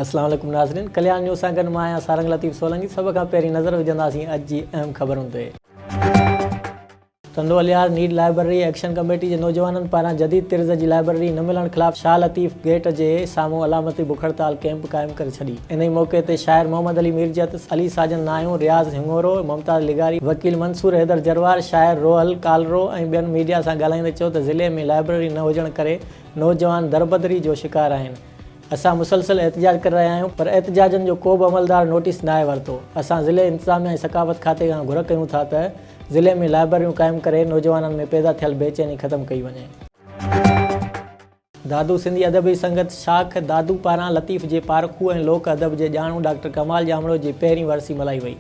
السلام عليڪم ناظرين ڪليان نيوز سان گڏ مان آهيان سارنگ لطيف سولنگي سڀ کان پهرين نظر وجهنداسين اڄ جي اهم خبرن تي Tando Allahyar need library action committee جي نوجوانن پاران جديد طرز جي لائبرري نه ملڻ خلاف شاهه لطيف گيٽ جي سامهون علامتي بک هڙتال ڪيمپ قائم ڪري ڇڏي. انهيء موقعي تي شاعر محمد علي ميرجت، علي ساجن ناهيون، رياض هڱورو، ممتاز لغاري، وڪيل منصور حيدر جروار، شاعر روحل ڪالرو ۽ ٻين ميڊيا سان ڳالهائيندي چيو ته ضلعي ۾ لائبرري نه هجڻ ڪري نوجوان دربدري جو شڪار آهن، اسان مسلسل احتجاج ڪري رهيا آهيون پر احتجاجن جو ڪو به عملدار نوٽيس ناهي ورتو، اسان ضلعي انتظاميا ۽ ثقافت کاتي کان گهر ڪيون ٿا ته ضلعي ۾ لائبرريون قائم ڪري نوجوانن ۾ پيدا ٿيل بيچيني ختم ڪئي وڃي. دادو سنڌي ادبي سنگت شاخ دادو پاران لطيف جي پارکو ۽ لوڪ ادب جي ڄاڻو ڊاڪٽر ڪمال ڄامڙو جي پهرين ورسي ملهائي وئي.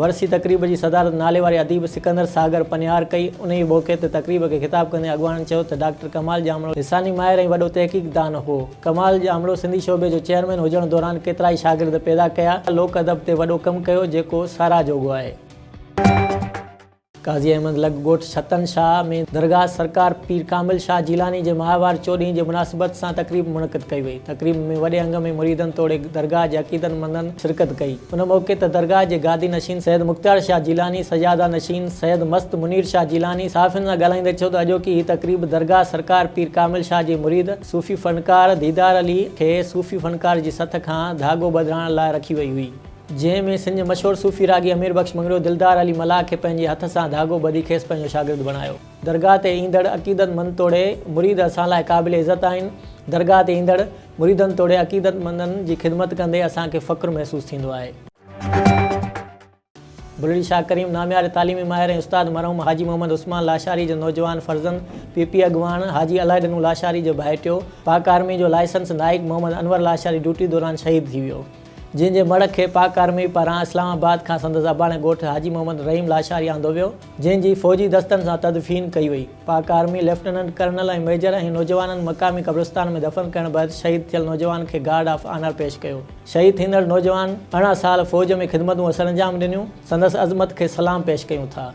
ورسي تقريب جي صدارت نالي واري اديب سڪندر ساگر پنهيار ڪئي. انهيء موقعي تي تقريب کي خطاب ڪندي اڳواڻن چيو ته ڊاڪٽر ڪمال ڄامڙو لساني ماهر ۽ وڏو تحقيق دان هو. ڪمال ڄامڙو سنڌي شعبي جو چيئرمين هجڻ دوران ڪيترائي شاگرد پيدا ڪيا. لوڪ ادب تي وڏو ڪم ڪيو جيڪو ساراهه جوڳو آهي. قاضي احمد لڳ ڳوٺ ڇتن شاهه ۾ درگاهه سرڪار پير ڪامل شاهه جيلاني جي ماهوار چوڏهين جي مناسبت سان تقريب منعقد ڪئي وئي. تقريب ۾ وڏي انگ ۾ مريدن توڙي درگاهه جي عقيدت مندن شرڪت ڪئي. ان موقعي تي درگاهه جي گادي نشين سيد مختيار شاهه جيلاني، سجاده نشين سيد مست منير شاهه جيلاني صحافين سان ڳالهائيندي چيو ته اڄوڪي هي تقريب درگاهه سرڪار پير ڪامل شاهه جي مريد صوفي فنڪار ديدار علي کي صوفي فنڪار جي سٿ کان ڌاڳو ٻڌرائڻ لاء رکي وئي هئي. جنهن ۾ سنڌ جي مشهور صوفي راڳي امير بخش مڱريو دلدار علي ملاح کي پنهنجي هٿ سان ڌاڳو ٻڌي کيس پنهنجو شاگرد بڻايو. درگاهه تي ايندڙ عقيدت مند توڙي مريد اسان لاء قابل عزت آهن. درگاهه تي ايندڙ مريدن توڙي عقيدت مندن جي خدمت ڪندي اسان کي فخر محسوس ٿيندو آهي. بلڙي شاهه ڪريم نامياري تعليمي ماهر ۽ استاد مرحوم حاجي محمد عثمان لاشاري جو نوجوان فرزند پي پي اڳواڻ حاجي الاهي ڏنو لاشاري جو ڀائٽيو پاڪ آرمي جو لائسنس نائيڪ محمد انور لاشاري ڊيوٽي دوران شهيد ٿي ويو. جنهن جي مڙهه کي پاڪ آرمي پاران اسلام آباد کان سندس اباڻي ڳوٺ حاجي محمد رحيم لاشاري آندو ويو، جنهن جي فوجي دستن سان تدفين ڪئي وئي. Pak army lieutenant colonel ۽ major ۽ نوجوانن مقامي قبرستان ۾ دفن ڪرڻ بعد شهيد ٿيل نوجوان کي گارڊ آف آنر پيش ڪيو. شهيد ٿيندڙ نوجوان ارڙهن سال فوج ۾ خدمتون سرانجام ڏنيون، سندس عظمت کي سلام پيش ڪيون ٿا.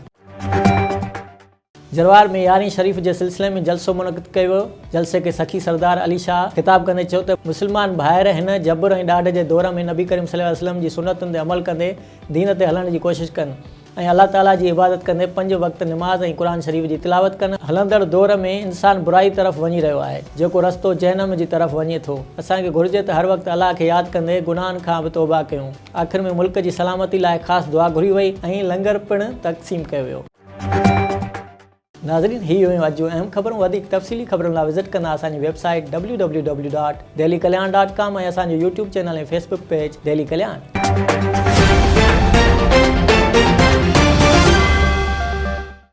جروار ۾ يارهين شريف جي سلسلي ۾ جلسو منعقد ڪيو ويو، جلسي کي سخي سردار علي شاهه خطاب ڪندي چيو ته مسلمان ڀائر هن جبر ۽ ڏاڍ جي دور ۾ نبي ڪريم صلي الله عليه وسلم جي سنتن تي عمل ڪندي دين تي هلڻ جي ڪوشش ڪن ۽ الله تعالي جي عبادت ڪندي پنج وقت نماز ۽ قرآن شريف جي تلاوت ڪن، هلندڙ دور ۾ انسان برائي طرف وڃي رهيو آهي جيڪو رستو جهنم جي طرف وڃي ٿو، اسان کي گهرجي ته هر وقت الله کي ياد ڪندي گناهن کان به توبه ڪيون، آخر ۾ ملڪ جي سلامتي لاء خاص دعا گهري وئي ۽ لنگر پڻ تقسيم ڪيو ويو. ناظرين هي هيون اڄ جون اهم خبرون وڌيڪ تفصيلي خبرن لا وزٽ ڪندا اسان جي website W W W dot Delhi Kalyan dot com ۽ اسان جو YouTube channel ۽ Facebook page Delhi Kalyan.